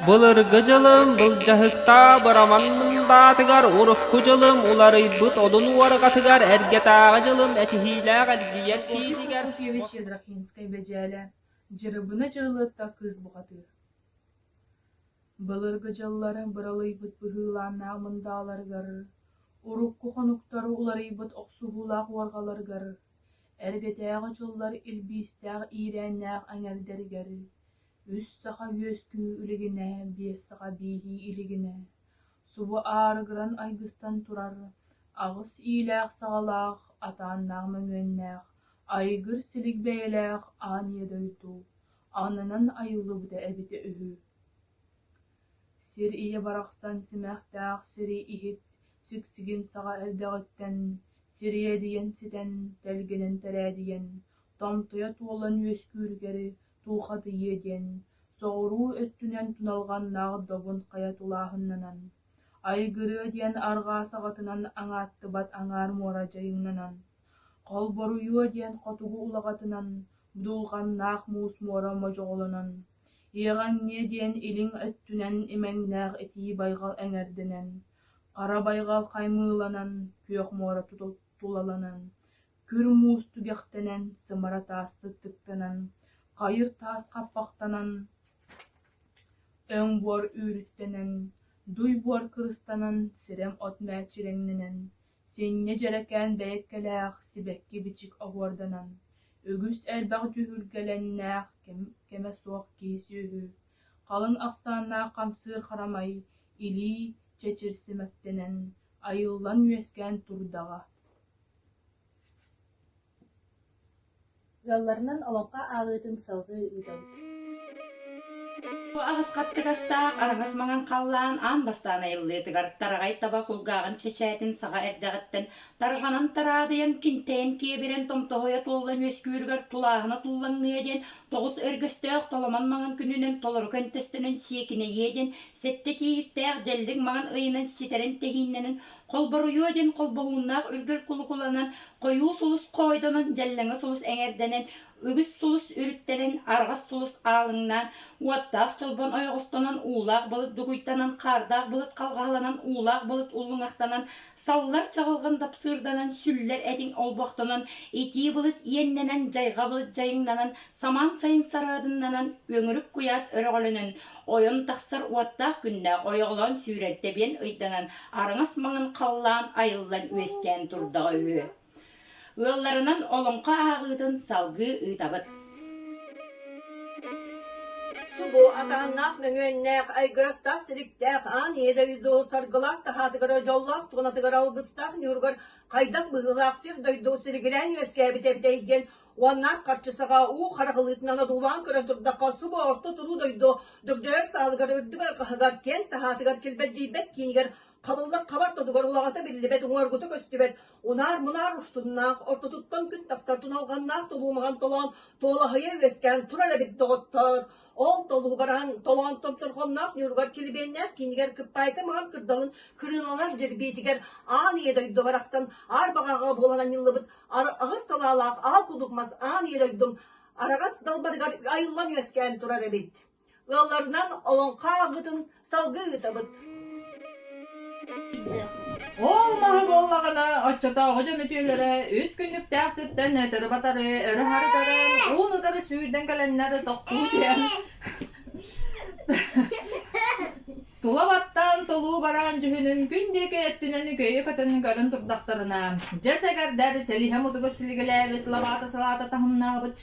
Былыргы дьылым былдьаһыктаах быраман мындаатыгар урукку дьылым уларыйбыт одун уорҕатыгар эргэтээҕи дьылым этиһиилээх эргийэр киинигэр Былыргы дьылларым быралыйбыт быһыылааннаах мындааларыгар, урукку хонуктары уларыйбыт охсуһуулаах уорҕаларыгар, эргэтээҕи дьыллар илбиистээх иирээннээх эҥэрдэригэр Үс саха үөскүү илигинэ, биэс саха бииһии илигинэ, субу аарыгыран айгыстан турар аҕыс иилээх-саҕалаах, атааннаах-мөҥүөннээх, айгыр силик бэйэлээх аанньа дойду аннынан айыллыбыта эбитэ үһү Сир ийэ барахсан симэхтээх сири иһит сиксигин саҕа эрдэҕиттэн сир ийэ диэн ситэн тэлгэнэн тэрээдийэн томтойо туолан үөскүүрүгэри туухатыйыа диэн, соҕуруу өттүнэн туналҕаннаах добун хайа тулааһыннанан, айгырыа диэн арҕаа саҕатынан аҥааттыбат аҥаар муора дьайыҥнанан, холборуйуо диэн хотугу улаҕатынан будулҕаннаах муус муора модьоҕолонон, иэҕэҥниэ диэн илиҥ өттүнэн имэҥнээх итии байҕал эҥэрдэнэн, хара байҕал хаймыыланан, күөх муора тулаланан, Күр муус түгэхтэнэн, сымара таас сыттыктанан, хайыр таас хаппахтанан, өҥ буор үүрүттэнэн, дуй буор кырыстанан, сирэм от мээчирэҥнэнэн, синньэ дьэрэкээн бэйэккэлээх сибэкки-бичик оһуорданан, үгүс элбэх дьүһүргэлэннээх кэмэ суох киһи-сүөһү, халыҥ ахсааннаах хамсыыр харамай, илии чэчирсимэктэнэн, айыллан үөскээн турдаҕа Ыалларынан олоххо ааҕыытын салгыы ыытабыт Аҕыс хаттыгастаах араҥас маҥан халлаан аан бастаан айыллыытыгар тараҕай таба кулгааҕын чэчээтин саҕа эрдэҕиттэн тарҕанан тараадыйан кинтээн киэбирэн томтоһойо туоллан үөскүүрүгэр тулааһына туллаҥныа диэн тоҕус өргөстөөх толомон маҥан күнүнэн толору көнтөстөнөн сиэкинэйиэ диэн сэттэ тииһиктээх дьэллик маҥан ыйынан ситэрин тэһииннэнэн Холборуйуо диэн холбоһууннаах үргэл кулукуланан, хойуу сулус хоойдонон, дьэллэҥэ сулус эҥэрдэнэн, үгүс сулус үрүттэрэн, арҕас сулус аалыҥнаан, уоттаах чолбон ойоҕостонон, уулаах былыт дугуйтанан, хаардаах былыт халҕаһаланан, уулаах былыт уллуҥахтанан, саллар чаҕылҕан дапсыырданан, сүллэр этиҥ олбохтонон, итии былыт иэннэнэн, дьайҕа былыт дьайыҥнанан, Самаан сайын сарыадыннанан Өҥүрүк куйаас өрөҕөлөнөн ойон тахсар уоттаах күннээх ойоҕолоон сүүрэр тэбиэн ыйданан араҥас маҥан халлаан айыллан үөскээн турдаҕа үһү. Ыалларынан олоҥхо ааҕыытын салгыы ыытабыт. Субу атааннаах мөҥүөннээх айгыстаах силиктээх аан ийэ дойду саргылаах таһаатыгар дьоллоох туонатыгар алгыстаах ньуургар хайдах быһыылаах сир дойду силигилээн үөскээбит эбит эйгэн Уонна харчы саҕа уу харахылыытынан одуулаан көрөн турдахха, субу орто туруу дойду дыгдьайар саалыгар үрдүк алҕаһыгар, киэҥ таһаатыгар килбэдьийбэт киинигэр хабыллар хабар тобугар улаҕата биллибэт уҥуоргута көстүбэт унаар-мунаар урсуннаах, ортотуттан күн тахсар туналҕаннаах толуумаҕан толоон, туолаһыйа үөскээн турар эбит доҕоттоор! Ол толуһу баран толоон томторхонноох ньуругар килибиэннээх киинигэр кыппаайта маҥан кырдалын кырыыланар дьэбиэтигэр аан ийэ дойду барахсан аар баҕаҕа буолан анньыллыбыт аҕыс салаалаах аал кудук мас аан ийэ дойдум араҕас далбарыгар айыллан үөскээн турар эбит. Ыалларынан олоҥхо ааҕыытын салгыы ыытабыт Ол маһы буоллаҕына, оччотооҕу дьон үтүөлэрэ үс күннүктээх сиртэн өтөрү-батары, өрө-хары көрөн, уун-утары сүүрдэн кэлэннэр тохтуу түһэн, тула баттаан тулуу бараан дьүһүнүн күн диэки өттүнэн үкөйө көтөн көрөн турдахтарына, дьэ сэгэрдэр, сэлиһэ мутугут силигэлээбит, лабаата-салаата таһымнаабыт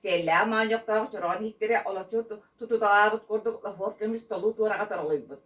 Сиэллээх моонньохтоох чороон иһиктэрэ олоччу тутуталаабыт курдук лофор көмүс толуу туораҕа торолуйбут.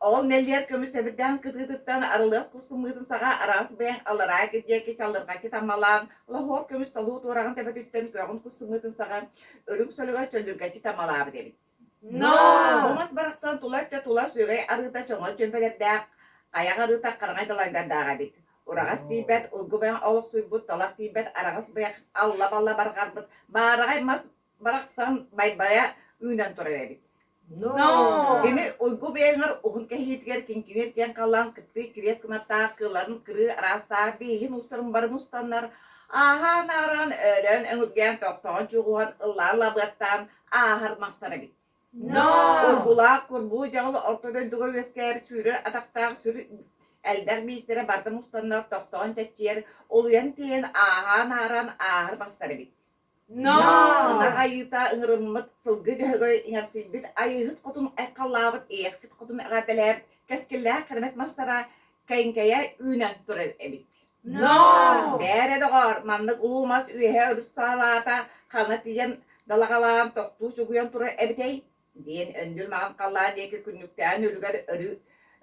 Ол нэллиэр көмүс эбирдээн кытыытыттан арылыас кустуммыытын саҕа араас бэйэҥ алараа кирдиэки чалырҕаччы таммалаан лоһуор көмүс толуу туораҕын тэбэтиттэн көҕүн кустуммыытын саҕа үрүҥ сөлөгө чөллүргэччи таммалаабыт эбит Но! Былас барахсан тула өттө тула сүрэй арыыта чоҥо чүмпэтэрдээх, айах арыыта хараҥай далайдардаах эбит. Ураҕас тиийбэт, улгу бэҕэ олохсуйбут, талах тиийбэт араҕас бэйэх алла-балла барҕарбыт, баараҕай мас барахсан байбайа үүнэн турар эбит. Но! Кини уйгу бэйэҥэр уһун кэһиитигэр кинкинэс диэн халлаан кыттыы кириэс кынаттаах кыыларын кырыы араастаах бииһин устарын бары мустаннар, ааһаан-аараан, өөрөөн өҥүргээн, тохтоон чуҕуһан, ыллаан лабыаттаан, ааһар мастар эбит. Ургулаах курбуу дьаҕыл орто дойдуга үөскээбит сүүрэр атахтаах сүр элбэх биистэрэ барда мустаннар тохтоон чаччыйар улуйан тиийэн ааһаан ааран ааһар мастар эбит. Мана айыыта ыңырыммыт сылгы дьөһөгөй иҥэрсийбит айыыһыт хотун айхаллаабыт иэхсит хотун эҕэтэлээбит кэскиллээх кэрмэт мастара кэҥкэйэ үүнэн турар эбит. Но! Бээрэ, доҕоор, маннык улуу мас үөһэ өрүс саалаата ханна тиийэн далаҕалаан тохтуу чугуйан турар эбитэй? диэн Өндүр маҕан халлаан диэки күннүктээн үлүгэр өрү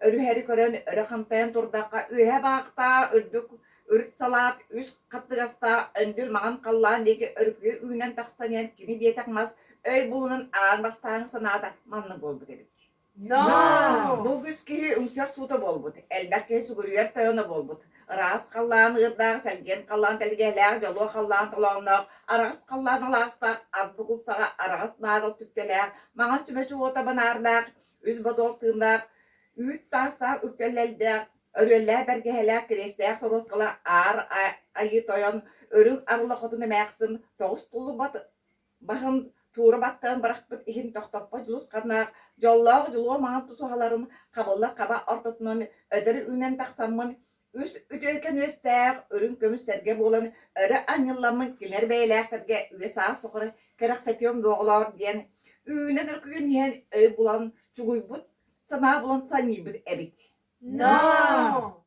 өрүһэри көрөн өрө хантайан турдахха үөһэ баахтаа үрдүк үрүт салаат үс хаттыгастаах Өндүр маҕан халлаан диэки өрүкүйэ үүнэн тахсан иһэн кини диэтэх мас өй булунан аан бастааҥы санаата маннык буолбут эбит Но! Бу үгүс киһи умсуйар суута буолбут. Элбэх киһи сүгүрүйэр тойоно буолбут. Ыраас халлаан ыырдаах, сэргиэн халлаан тэлгэһэлээх, дьолуо халлаан толоонноох, араҕас халлаан алаастаах, ат бугулсаҕа араҕас наадал түптэлээх, маҥан чүмэ чуота банаардаах, үс бодол тыыннаах, үүт таастаах үктэллэлдээх, өрүөллээх бэргэһэлээх кириэстээх торуоскала аар айыы тойон, үрүҥ арыла хотун эмээхсин, тоҕус туллубат Баһын туура баттан бырахпыт иһин тохтоппот дьулусханнаах дьоллоох дьулуо маҥан тусуһаларын хабылла хаба ортотунан өтөр үүнэн тахсаммын үс үтүөкэн үөстээх үрүҥ көмүс сэргэ буолан өрө анньылламмын килэр бэйэлээхтэргэ үөсаа соҕуру кэрэхсэтиэм дуоҕулоор диэн үүнэ дөркүйүн иһэн өй булан чугуйбут санаа булан санньыйбыт эбит. No!